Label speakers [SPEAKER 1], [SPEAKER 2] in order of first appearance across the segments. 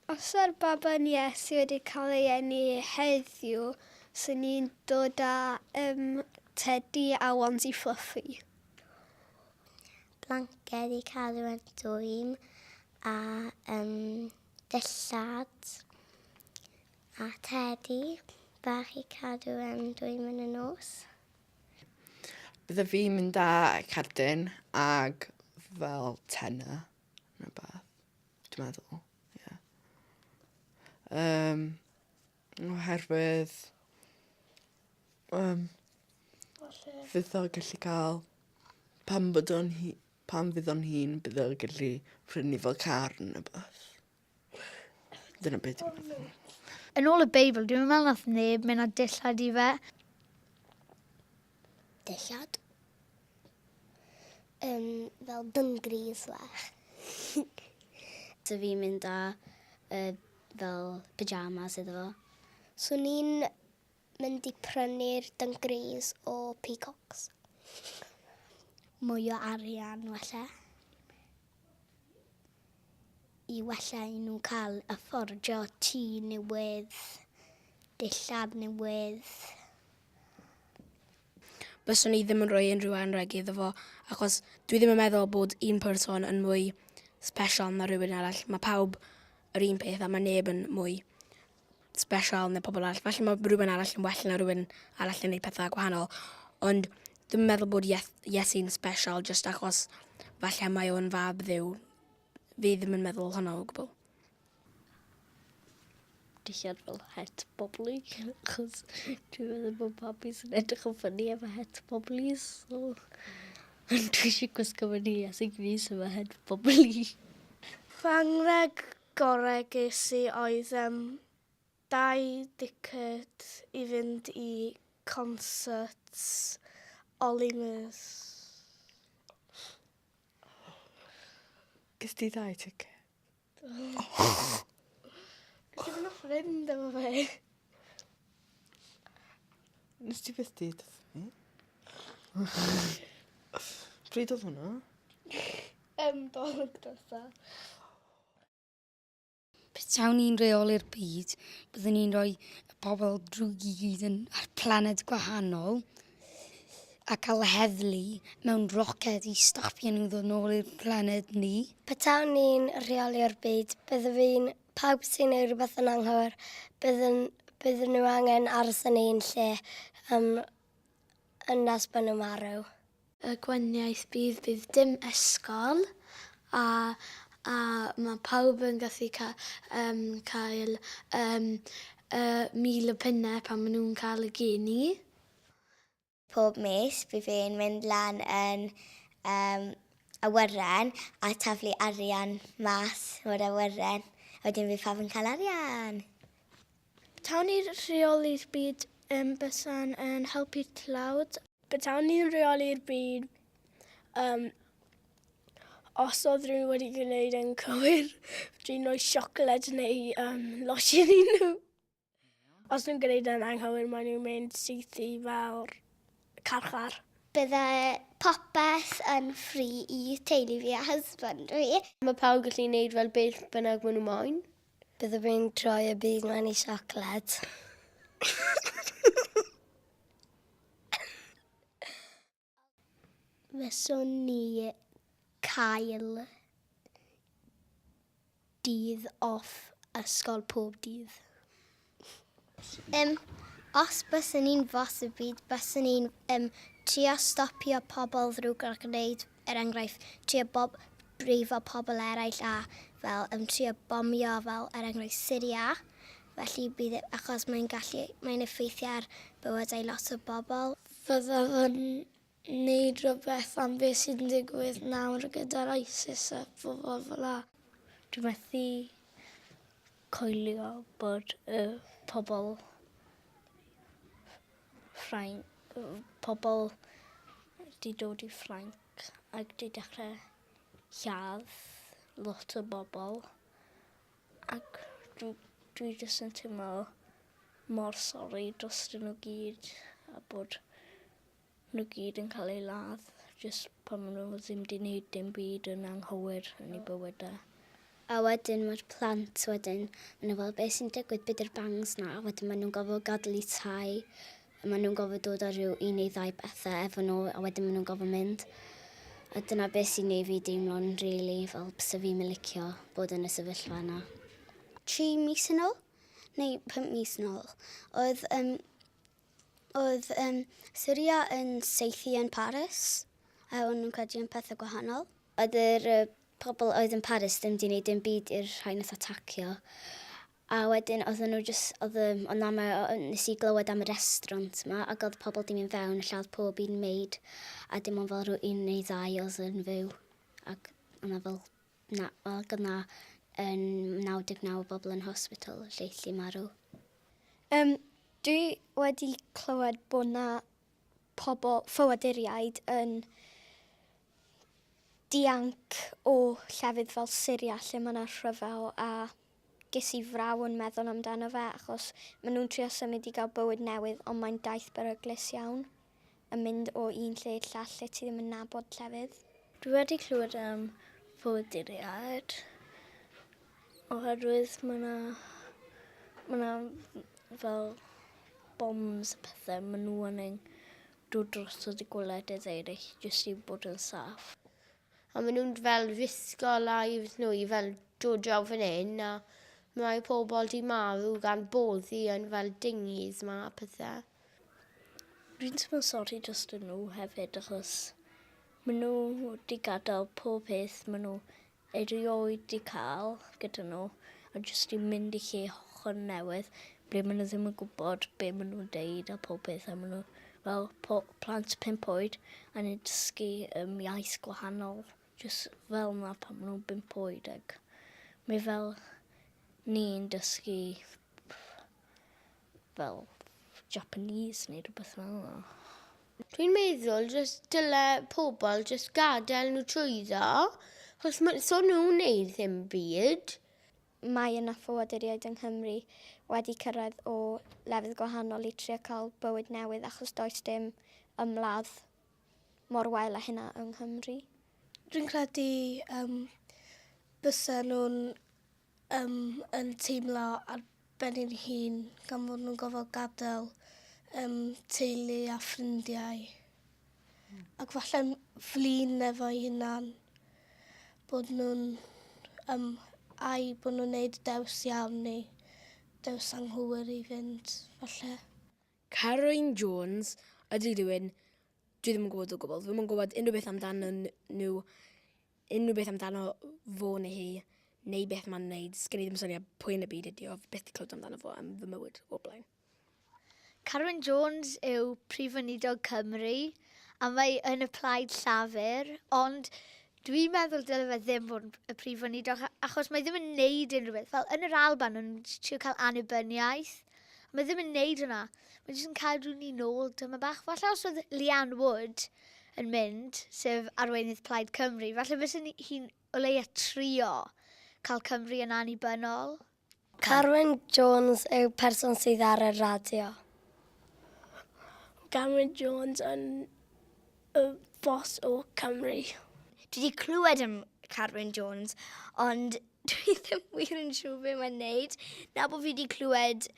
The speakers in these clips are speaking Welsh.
[SPEAKER 1] Os yw'r baban Iesu wedi cael ei eni heddiw, swn i'n dod â um, tedi a wansi fluffy.
[SPEAKER 2] Blanced i cadw yn dwym a um, dillad a tedi bach i cadw yn dwym yn y nos.
[SPEAKER 3] Bydde fi'n mynd â cerdyn ag fel tenna neu beth. Dwi'n meddwl, ie. Yym oherwydd yym... Falle... ...fydd o gellu ca'l pan bod o'n hi- pan fydd o'n hŷn bydd o gellu prynu fo car ne' wbath. Dyna be' dwi'n meddwl. Yn ôl y Beibl
[SPEAKER 4] dwi'm yn me'wl nath neb myn' â dillad i fe.
[SPEAKER 2] dillad. Um, fel dyngridd fach.
[SPEAKER 5] so fi'n mynd â uh, fel pyjamas iddo fo. So ni'n
[SPEAKER 2] mynd i prynu'r dyngridd o peacocks. Mwy o arian, wella. I wella i nhw cael y ffordio tŷ newydd, dillad newydd.
[SPEAKER 6] byswn i ddim yn rhoi unrhyw anrheg iddo fo, achos dwi ddim yn meddwl bod un person yn mwy special na rhywun arall. Mae pawb yr un peth a mae neb yn mwy special na pobl arall. Felly mae rhywun arall yn well na rhywun arall yn gwneud pethau gwahanol. Ond dwi'n meddwl bod Iesu'n special just achos falle mae o'n fab ddiw. Fi ddim yn meddwl hwnna o gwbl.
[SPEAKER 5] dillad fel het bobli, achos dwi'n meddwl bod babi sy'n edrych yn ffynnu efo het bobli, so... Ond dwi eisiau gwisgo fy ni as yn gris efo het bobli. Fy
[SPEAKER 1] anrheg gorau ges i oedd um, dau diced i fynd i concert Olly Murs.
[SPEAKER 3] Ges ti ddau ticket?
[SPEAKER 1] Nes i fyn' off fynd efo fe.
[SPEAKER 3] Nes ti byth deud wrth fi. Pryd odd hwnna? Yym
[SPEAKER 1] Dolig dwetha.
[SPEAKER 7] Petawn i'n reoli'r byd, byddwn i'n rhoi y pobl drwg i gyd yn ar planed gwahanol, a cael heddlu mewn roced i stopio nhw ddod nôl i'r planed ni. Petawn ni'n
[SPEAKER 2] rheoli'r byd, byddwn fi'n pawb sy'n neud rhywbeth yn anghywir, byddwn, byddwn nhw angen aros yn ein lle um, yn nes bod nhw'n marw. Y
[SPEAKER 1] gwaniaeth bydd bydd dim ysgol a a mae pawb yn gallu ca, um, cael um, uh, mil o punnau pan maen nhw'n cael y geni.
[SPEAKER 2] Pob mis bydd e'n mynd lan yn yym awyren a taflu arian mas o'r awyren a wedyn bydd pawb yn cael arian! Petawn
[SPEAKER 1] ni'n rheoli'r byd yym bysan yn helpu'r tlawd. Petawn ni'n rheoli'r byd yym os oedd rhywun wedi gwneud e'n cywir fedri roi siocled neu yym losin i nhw. Os nhw'n gwneud e'n anghywir maen nhw'n mynd syth i fawr carchar. Bydde
[SPEAKER 2] popeth yn ffri i teulu fi a husband fi. Mae pawb yn gallu neud
[SPEAKER 5] fel beth bynnag maen nhw moyn. Bydde fi'n
[SPEAKER 2] troi y byd maen i siocled. Fyswn ni cael dydd off ysgol pob dydd. Um, os byswn ni'n fos y byd, byswn ni'n um, trio stopio pobl ddrwg a gwneud, er enghraifft, trio bob, brifo pobl eraill a fel um, trio bomio fel er enghraifft Syria. Felly bydd, e, achos mae'n gallu, mae'n effeithio ar bywydau lot o bobl. Byddaf yn
[SPEAKER 1] neud rhywbeth am beth sy'n digwydd nawr gyda'r ISIS a phobl fel 'na. Dwi methu
[SPEAKER 5] coelio bod y pobl Ffrain- yy pobl 'di dod i Ffrainc ac 'di dechre lladd lot o bobl. Ac dw, dwi jyst yn teimlo mor sori drostyn nhw gyd a bod nhw gyd yn cael eu ladd jyst pan maen nhw ddim di wneud dim byd yn anghywir yn eu bywydau. A
[SPEAKER 2] wedyn mae'r plant wedyn, maen nhw fel beth sy'n digwydd, be di'r bangs na? A wedyn maen nhw'n gorfod gadael eu tai Maen nhw'n gofod dod ar ryw un neu ddau bethau efo nhw a wedyn maen nhw'n gofod mynd. A dyna beth sy'n neud fi deimlo'n rili fel byse fi'm yn licio bod yn y sefyllfa yna. Tri mis yn ôl, neu pum mis yn ôl, oedd um, oedd um, Syria yn seithi yn Paris, a o'n nhw'n credu yn pethau gwahanol. Oedd yr uh, pobl oedd yn Paris ddim wedi gwneud dim byd i'r rhai nath atacio. A wedyn oedden nhw jyst, oedd y, ond na, mae, nes i glywed am y restaurant yma, ac oedd pobl di mynd fewn, lle oedd pob un maid, a dim ond fel rhyw un neu ddau oedd yn fyw. Ac oedd na fel, na, ac oedd na yn 99 bobl yn hospital, lle lli marw. Um,
[SPEAKER 8] dwi wedi clywed bod na pobl ffoaduriaid yn dianc o llefydd fel Syria lle mae yna rhyfel a Ges i fraw yn meddwl amdano fe achos maen nhw'n trio symud i gael bywyd newydd ond mae'n daith beryglus iawn yn mynd o un lle i'r llall lle ti ddim yn nabod llefydd. Dwi wedi clywed
[SPEAKER 5] am ffoaduriaid oherwydd mae yna mae yna fel bombs a pethau maen nhw yn ein dod drosodd y gwledydd eraill jyst i bod yn saff. a maen nhw'n
[SPEAKER 9] fel risgo lives nhw i fel dod draw fan hyn a mae pobl di marw gan boddi yn fel dinghies ma a pethe.
[SPEAKER 5] Fi'n teimlo sori dros dyn nhw hefyd achos maen nhw di gadael pob peth maen nhw erioed di cael gyda nhw a jyst di mynd i lle hollol newydd ble maen nhw ddim yn gwybod be maen nhw'n deud a pob peth a maen nhw fel plant pump oed a ni'n dysgu um, iaith gwahanol, jyst fel yna pan maen nhw'n bump oed. Ac mae fel ni'n dysgu fel Japanese neu rhywbeth fel yna. Dwi'n
[SPEAKER 9] meddwl jyst dyle pobl jyst gadael nhw trwyddo, achos so nhw'n neud ddim byd. Mae yna
[SPEAKER 8] ffoaduriaid yng Nghymru wedi cyrraedd o lefydd gwahanol i trio cael bywyd newydd achos does dim ymladd mor wael â hynna yng Nghymru. Dwi'n credu
[SPEAKER 1] um, bysa nhw'n um, yn teimlo ar ben i'n hun gan fod nhw'n gofod gadael um, teulu a ffrindiau. Ac falle'n flin efo'i hunan bod nhw'n um, ai bod nhw'n neud dews iawn neu dews anghywir i fynd, falle. Carwyn
[SPEAKER 6] Jones, ydy rhywun, dwi ddim yn gwybod o gwbl, ddim yn gwybod unrhyw beth amdano nhw, unrhyw beth amdano fo neu hi, neu beth mae'n neud, sgen i ddim syniad pwy yn y byd ydi o, beth di clywed amdano fo am fy mywyd o'r blaen. Carwyn
[SPEAKER 4] Jones yw Prif Weinidog Cymru a mae yn y Plaid Llafur, ond dwi'n meddwl dyle fe ddim fod yn y Prif Weinidog achos mae ddim yn neud unrhyw beth. Fel yn yr Alban yn trio cael annibyniaeth, mae ddim yn neud hwnna. Mae jyst yn cadw ni nôl dyma bach. Falle os oedd Leanne Wood yn mynd, sef arweinydd Plaid Cymru, falle fysa hi'n o leia trio cael Cymru yn annibynnol. Carwyn
[SPEAKER 2] Jones yw person sydd ar y radio.
[SPEAKER 1] Carwyn Jones yn y bos o Cymru. Dwi wedi
[SPEAKER 8] clywed am Carwyn Jones, ond dwi ddim wir yn siŵr be mae'n neud. Na bod fi wedi clywed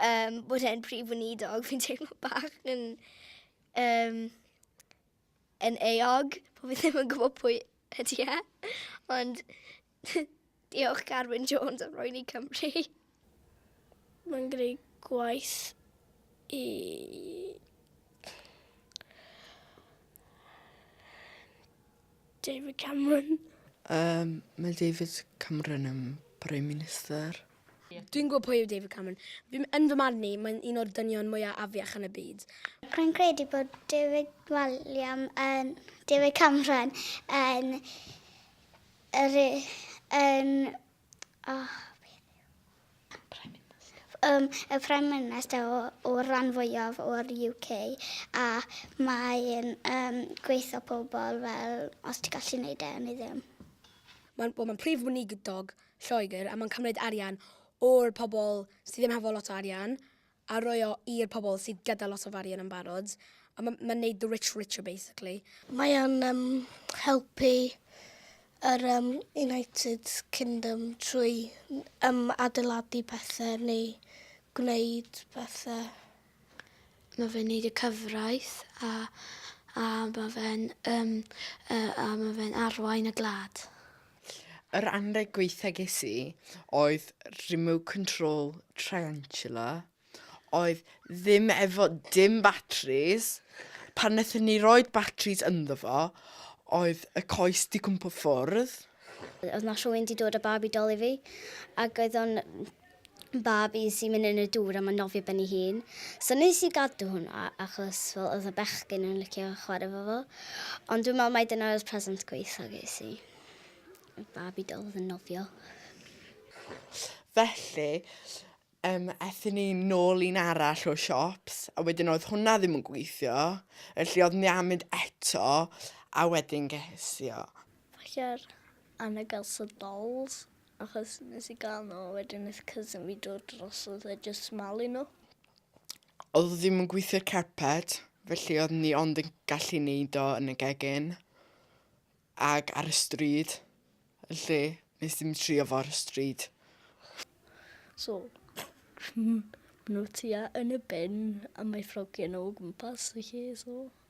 [SPEAKER 8] um, bod e'n prif weinidog, fi'n teimlo bach yn... Um, yn eog, po fi ddim yn gwybod pwy ydy e. Ond diolch Carwyn Jones am roi ni Cymru.
[SPEAKER 1] Mae'n greu gwaith i David Cameron. Um,
[SPEAKER 3] mae David Cameron yn Prime Minister. Dwi'n gwybod
[SPEAKER 6] pwy yw David Cameron. Yn fy marn i, mae'n un o'r dynion mwyaf afiach yn y byd. Rwy'n credu
[SPEAKER 2] bod David William yn David Cameron yn yr yn oh, um, y Prime Minister o, o ran fwyaf o'r UK a mae'n um, gweithio pobl fel os ti'n gallu gwneud e yn ei ddim. Mae'n well, mae
[SPEAKER 6] prif weinidog Lloegr a mae'n cymryd arian o'r pobl sydd ddim hefo lot o arian a rhoi o i'r pobl sydd gyda lot o arian yn barod a mae'n ma neud the rich
[SPEAKER 1] richer
[SPEAKER 6] basically. Mae
[SPEAKER 1] o'n um,
[SPEAKER 6] helpu yr um,
[SPEAKER 1] United Kingdom trwy um, adeiladu pethau neu gwneud pethau.
[SPEAKER 6] Mae fe'n neud y cyfraith a a ma' fe'n yym yy a ma' fe'n arwain y gwlad. Yr
[SPEAKER 3] anrheg gwaetha ges i oedd remote control triantula oedd ddim efo dim batris pan nethon ni roid batris ynddo fo oedd y coes 'di cwmpo ffwrdd. O'dd 'na
[SPEAKER 2] rhywun 'di dod â babi dol i fi ag oedd o'n babi sy'n mynd yn y dŵr a mae'n nofio ben ei hun. So nes i gadw hwnna achos fel oedd y bechgyn yn licio chwarae fo fo. Ond dwi'n meddwl mai dyna oedd present gweitha ges i. Y babi dol oedd yn nofio.
[SPEAKER 3] Felly, um, ethyn ni nôl un arall o siops, a wedyn oedd hwnna ddim yn gweithio, felly oedd ni am mynd eto, a wedyn ges i o. Falle ar
[SPEAKER 5] Anna Gelson Dolls. Achos nes i gael nhw a wedyn nes cousin fi dod drosodd a jyst malu nhw. Oedd
[SPEAKER 3] o ddim yn gweithio'r carped, felly oedd ni ond yn gallu neud o yn y gegin ag ar y stryd, felly nes ddim trio fo ar y stryd.
[SPEAKER 5] So, nhw tua yn y bin a mae ffrogiau nhw o gwmpas y lle, so...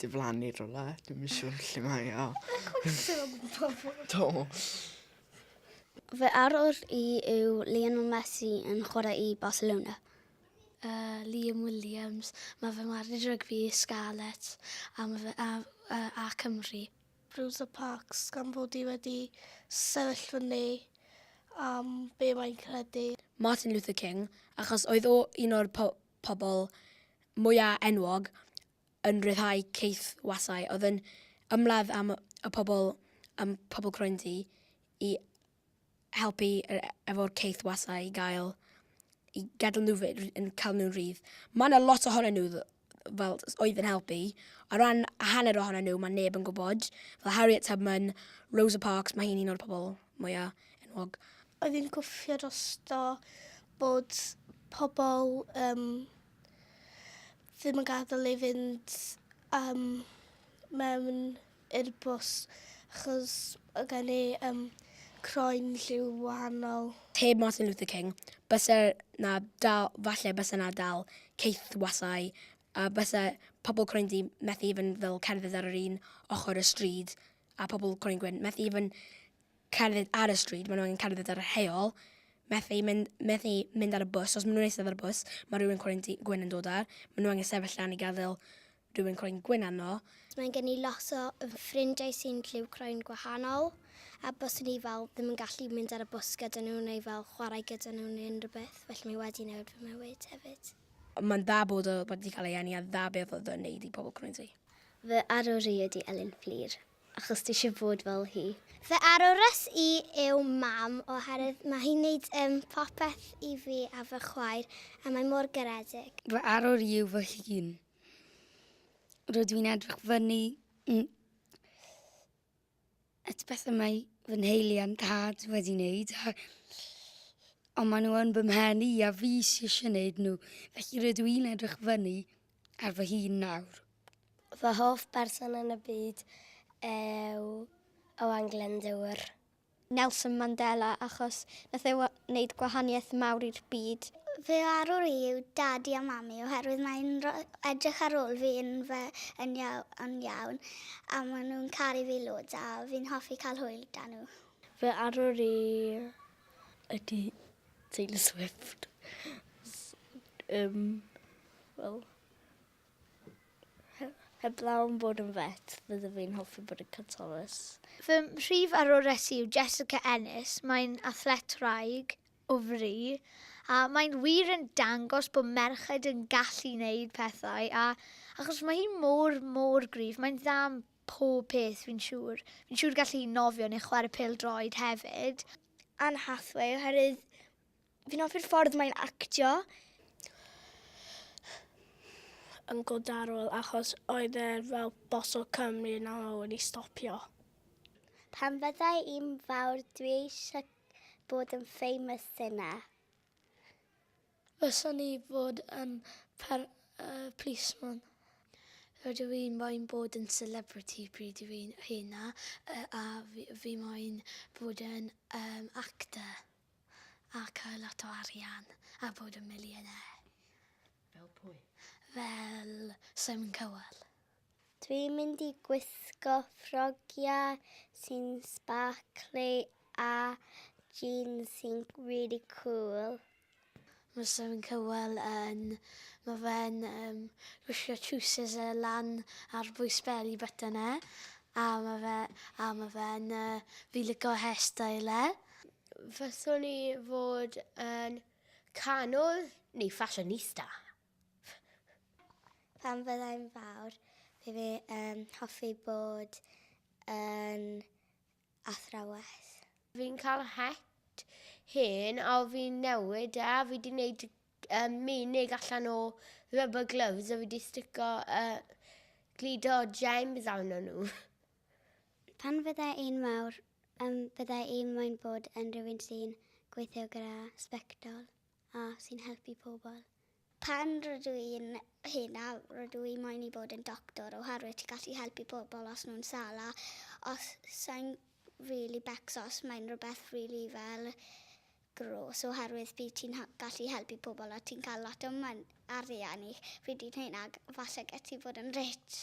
[SPEAKER 3] diflannu rola, dwi'n yn siŵr lle mae o. Do.
[SPEAKER 2] Fy arwr i yw Lionel Messi yn chwarae i Barcelona. Uh,
[SPEAKER 6] Liam Williams, mae fy marw rygbi i Scarlets a, ma fe, a, a, a Cymru. Rosa
[SPEAKER 1] Parks gan fod i wedi sefyll fyny am be mae'n credu. Martin Luther King,
[SPEAKER 6] achos oedd o un o'r po pobl mwyaf enwog yn rhyddhau caethwasau oedd yn ymladd am y pobl ym Pobl Croenddu i helpu efo'r caethwasau i gael i gadael nhw fy- r- yn cael nhw'n rhydd. Mae yna lot ohonyn nhw dd- fel s- oedd yn helpu. O ran hanner ohonyn nhw mae neb yn gwybod. Fel Harriet Tubman, Rosa Parks, mae hi'n un o'r pobl mwyaf enwog. Oedd hi'n gwffio
[SPEAKER 1] drosto bod pobl um, ddim yn gadael ei fynd um, mewn i'r bws achos o gen i um, croen lliw wahanol. Heb Martin Luther
[SPEAKER 6] King, bysa na dal, falle bysa na dal ceithwasau a bysa pobl croen di methu i fynd fel cerdded ar yr un ochr y stryd a pobl croen gwyn methu i fynd cerdded ar y stryd, maen nhw angen cerdded ar y heol, methu mynd, methu mynd ar y bws. Os maen nhw'n eistedd ar y bws, mae rhywun croen gwyn yn dod ar. Maen nhw angen sefyll lan i gadael rhywun croen gwyn arno. Mae gen i lot
[SPEAKER 2] o ffrindiau sy'n lliw croen gwahanol, a bys ni fel ddim yn gallu mynd ar y bws gyda nhw neu fel chwarae gyda nhw neu unrhyw beth, felly mae wedi newid fy mywyd hefyd. Mae'n dda bod
[SPEAKER 6] o wedi cael ei eni a dda beth oedd o'n neud i pobl croen ti. Fy arwr i
[SPEAKER 2] ydi Elin Fflur. Achos ti eisiau bod fel hi. Fy arwres i yw Mam oherwydd mae hi'n neud um, popeth i fi a fy chwaer a mae mor garedig. Fy arwr i yw fy
[SPEAKER 7] hun. Rydw i'n edrych fyny mm, at bethau mae fy nheulu a'n tad wedi wneud a ond maen nhw yn bymhen i a fi sy'n eisiau gwneud nhw. Felly rydw i'n edrych fyny ar fy hun nawr. Fy hoff
[SPEAKER 2] berson yn y byd yw Owain Glyndŵr. Nelson Mandela achos nath e wneud gwahaniaeth mawr i'r byd. Fy arwr i yw Dadi a Mami oherwydd mae'n edrych ar ôl fi yn fy yn iawn a maen nhw'n caru fi loads a fi'n hoffi cael hwyl 'da nhw. Fy arwr
[SPEAKER 5] i ydy Taylor Swift. um, wel, heb law yn bod yn fet, fydde fi'n hoffi bod yn Catolis. Fy mhrif
[SPEAKER 4] arwres yw Jessica Ennis. Mae'n athlet rhaeg o fri a mae'n wir yn dangos bod merched yn gallu wneud pethau a achos mae hi mor, mor gryf, mae'n dda am pob peth fi'n siŵr. Fi'n siŵr gallu nofio neu chwarae pel droed hefyd. Anne Hathaway
[SPEAKER 8] oherwydd fi'n hoffi'r ffordd mae'n actio.
[SPEAKER 1] Yn godarol achos oedd e fel bos o Cymru yn aml wedi stopio.
[SPEAKER 2] Pan fydda i'n fawr dwi eisiau bod yn famous singer.
[SPEAKER 5] Fyswn i fod yn per, uh, policeman. Rydw i'n moyn bod yn celebrity pryd dw i'n hyn a, uh, a fi, fi moyn bod yn um, actor a cael lot o arian a bod yn millionaire. Fel
[SPEAKER 3] pwy? Fel
[SPEAKER 5] Simon Cowell. Dwi'n
[SPEAKER 2] mynd i gwisgo ffrogiau sy'n sparkly a jeans sy'n really cool. Mae
[SPEAKER 5] Simon Cowell yn... mae fe'n yym gwisgo trowsus yy lan ar bwys beli button e a ma' fe a ma' fe'n yy fi'n lico hairstyle e. Fyswn
[SPEAKER 9] i fod yn canwr neu fashionista.
[SPEAKER 2] Pan fydda i'n fawr, bydd fi yn hoffi bod yn athrawes. Fi'n
[SPEAKER 9] cael het hen a fi'n newid e a fi 'di 'neud yym menig allan o rubber gloves a fi 'di stico yy glido gems arno nhw.
[SPEAKER 2] Pan fydda i'n fawr yym bydda i moyn bod yn rhywun sy'n gweithio gyda sbectol. a sy'n helpu pobl. Pan rydw i'n henaf, rydw i moyn i bod yn doctor oherwydd ti'n gallu helpu pobl os nhw'n sal a os sa'n rili becso os mae'n rhywbeth rili fel gros oherwydd bydd ti'n gallu helpu pobl a ti'n cael lot o arian i pryd ti'n hŷn ac falle get ti fod yn rich.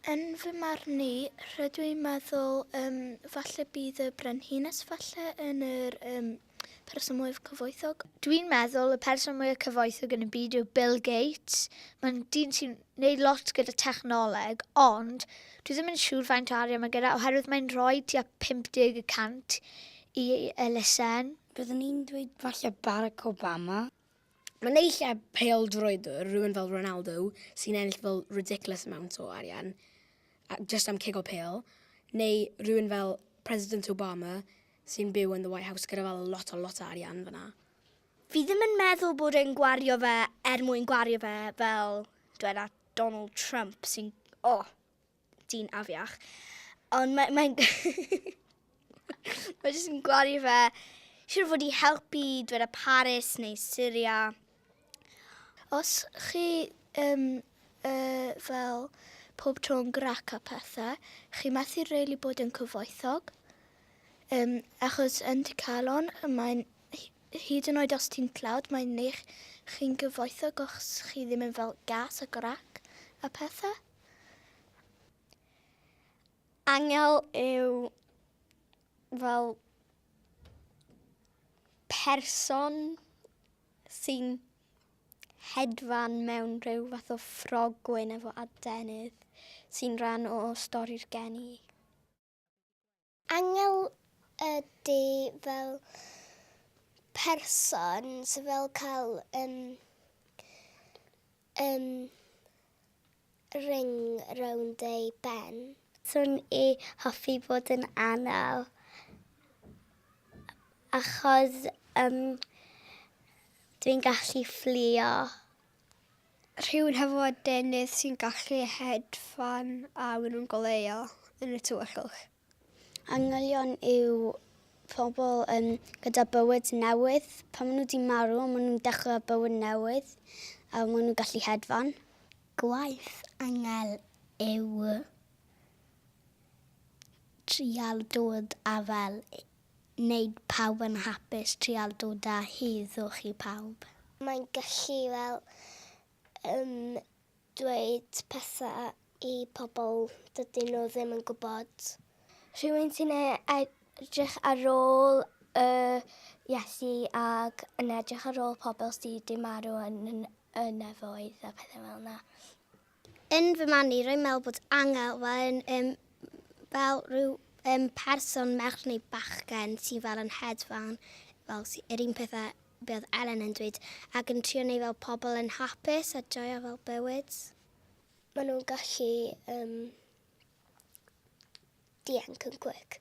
[SPEAKER 2] Yn
[SPEAKER 1] fy marn i, rydw i'n meddwl um, falle bydd y brenhines falle yn yr um, person mwyaf cyfoethog. Dwi'n meddwl y
[SPEAKER 4] person mwyaf cyfoethog yn y byd yw Bill Gates. Mae'n dyn sy'n neud lot gyda technoleg, ond dwi ddim yn siŵr faint o arian mae gyda, oherwydd mae'n rhoi tua 50 y cant i elusen. Byddwn i'n dweud
[SPEAKER 7] falle Barack Obama. Mae naill
[SPEAKER 6] ai pêl-droedwr, rhywun fel Ronaldo, sy'n ennill fel ridiculous amount o arian, just am cigo pêl, neu rhywun fel President Obama, sy'n byw yn the White House gyda fel lot o lot o arian fyna. Fi ddim yn
[SPEAKER 1] meddwl bod e'n gwario fe er mwyn gwario fe fel dweda Donald Trump sy'n, oh, dyn afiach. Ond mae'n... Mae, mae jyst yn gwario fe. Siwr fod i helpu dweud y Paris neu Syria. Os chi um, uh, fel pob tro'n grac a pethau, chi methu really bod yn cyfoethog. Um, achos yn dy calon, mae'n hyd yn oed os ti'n tlawd, mae'n neich chi'n gyfoethog os chi ddim yn fel gas a grac a pethau.
[SPEAKER 2] Angel yw fel person sy'n hedfan mewn rhyw fath o ffrogwyn efo adenydd sy'n rhan o stori'r geni. Angel ydy fel person sy'n fel cael um, um, ring rownd ei ben. Swn i hoffi bod yn anel achos um, dwi'n gallu fflio. Rhywun hefo adenydd sy'n gallu hedfan a maen nhw'n goleuo yn y tywyllwch. Angylion yw pobl um, gyda bywyd newydd. Pan maen nhw wedi marw, maen nhw'n dechrau bywyd newydd a maen nhw'n gallu hedfan. Gwaith angel yw trial dod a fel wneud pawb yn hapus, trial dod â heddwch i pawb. Mae'n gallu fel yym dweud pethau i pobl dydyn nhw ddim yn gwybod. Rhywun sy'n e- edrych ar ôl y Iesu ac yn edrych ar ôl pobl sy' 'di marw yn y nefoedd a pethau fel 'na. Yn fy marn i, rwy'n meddwl bod angel fel yn, um, fel rhyw um, person merch neu bachgen sy'n fel yn hedfan, fel yr un pethau be oedd Ellen yn dweud, ac yn trio neu fel pobl yn hapus a joio fel bywyd. Maen nhw'n gallu um, dianc yn cwic.